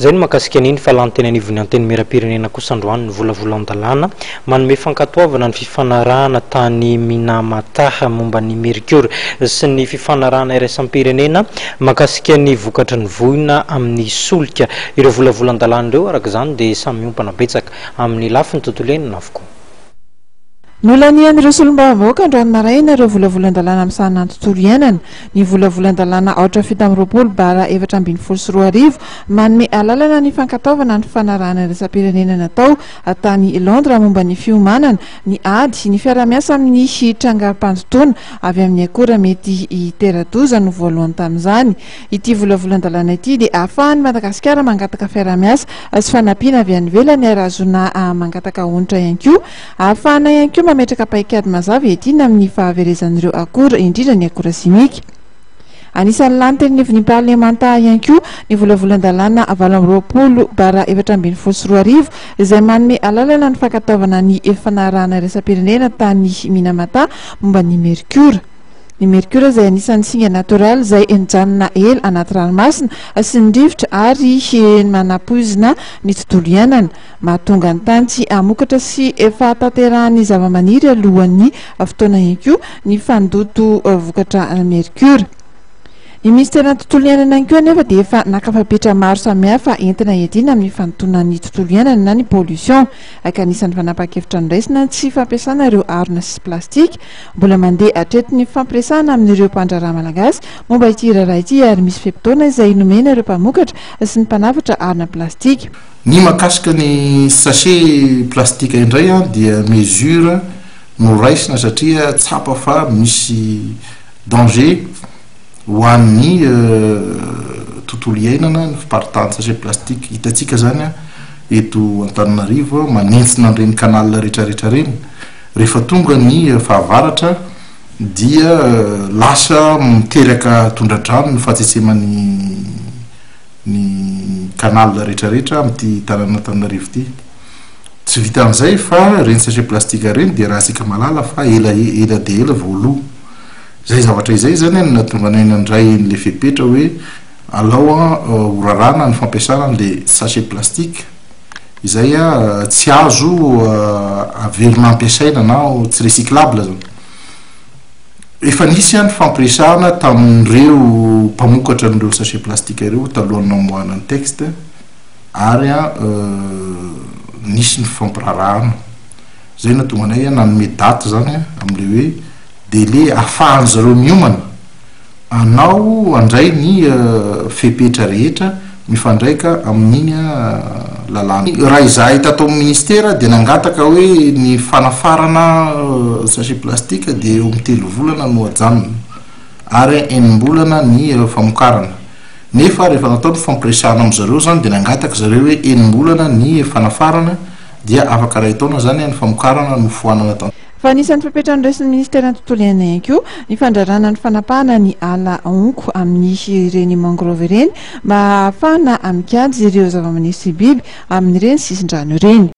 Izay no mahakasika an'iny fa lany teny anivon'ny Antenimierampirenena kosa androany ny volavolan-dalàna manome fankatoavana ny fifanarahana tany Minamataha momba ny merkiora sy ny fifanarahana iraisam-pirenena mahakasika ny vokatry ny voina amin'ny solika. Ireo volavolan-dalàna ireo araka izany dia samy miompana betsaka amin'ny lafiny tontolo iainana avokoa. Nolanian'ireo solombavambahoaka androany maraina ireo volavolan-dalàna misahana ny tontolo iainana. Ny volavolan-dalàna aotra fito amby roapolo bara efatra ambin'ny folo sy roa arivo manome alalana ny fankatoavana ny fifanarahana iraisam-pirenena natao tany Londres momba ny fiomanana, ny ady, ny fiarahamiasa amin'ny trangan-pandotoana avy amin'ny akora mety hitera-doza no voalohany tamin'izany. Ity volavolan-dalàna ity dia ahafahan'i Madagasikara mangataka fiaraha-miasa sy fanampiana avy any ivelany ary ahazoana mangataka onitra ihany koa. Ahafahana ihany koa mametraka paikady mazava iadiana amin'ny fahaverezan'ireo akora, indrindra ny akora simika. Anisan'ny lany teny anivon'ny Parlemanta ihany koa ny volavolan-dalàna valo amby roapolo bara efatra ambin'ny folo sy roa arivo izay manome alalana ny fankatoavana ny fanarahana iraisam-pirenena tany Minamata momba ny merkiora. Ny mercure izay anisan'ny singa natoraly izay mijanona ela anaty ranomasina sy ny rivotra ary manapoizina ny tontolo iainana. Mahatonga ny tany tsy hamokatra sy fahatanterahan'ny zavamaniry alohan'ny fotoana ihany koa ny fandoto vokatra mercure. Ny minisiteran'ny tontolo iainana ihany koa anefa dia efa naka fepetra maro samihafa entina hiadiana amin'ny fandotoana ny tontolo iainana na ny pollution ka anisan'ny fanapahan-kevitra noraisina ny tsy fampiasana ireo harona sy plastika Mbola mandeha hatreto ny fifampiresahana amin'ireo mpandraharaha malagasy momba ity raharaha ity ary misy fe-potoana izay nomena ireo mpamokatra sy ny mpanafatra harona plastika. Ny mahakasika ny sachet plastika indray dia mesure noraisina satria tsapa fa misy danger ho an'ny tontolo iainana ny fiparitahan'ny sachet plastika. Hitantsika izany eto Antananarivo manentsina an'ireny canal rehetrarehetra ireny. Rehefa tonga ny fahavaratra dia lasa miteraka tondra-drano ny fahatsetseman'ny ny canal rehetrarehetra amin'ity tanàn'Antananarivo ity. Tsy vitan'izay fa ireny sachet plastique ireny dia raha isika mahalala fa ela e, ela dia ela vao lo. Izay zavatra izay izany no nahatonga anay nandray an'ilay fepetra hoe alao horarana ny fampiasana an'ilay sachet plastique. izay tsy azo averina ampiasaina na tsy recyclable zany. Efa nisy ny fampiresahana tamin'ireo mpamokatra an'ireo sachet plastique ireo talohan'ny namoahana ny texte ary nisy ny fifampiraharahana. Izay no nahatonga anay nanome date izany amin'ilay hoe délai ahafahan'izareo miomana. Anao handray ny fepetra rehetra mifandraika amin'iny lalàna. Raha izahay tato amin'ny Ministera dia nangataka hoe ny fanafarana sachet plastique dia eo amin'ny telo volana no ajanona ary enim-bolana ny famokarana. Nefa rehefa natao ny fampiresahana amin-dry zareo izany dia nangataka zareo hoe enim-bolana ny fanafarana dia afaka iray taona izany ny famokarana no foanana. Fa anisan'ny fepetra noresin'ny Ministeran'ny Tontolo iainana ihany koa ny fandraràna ny fanapahana ny ala honko amin'ny ireny mangrove ireny mba hahafahana mikajy ireo zava-maniry sy biby amin'ireny sisin-drano ireny.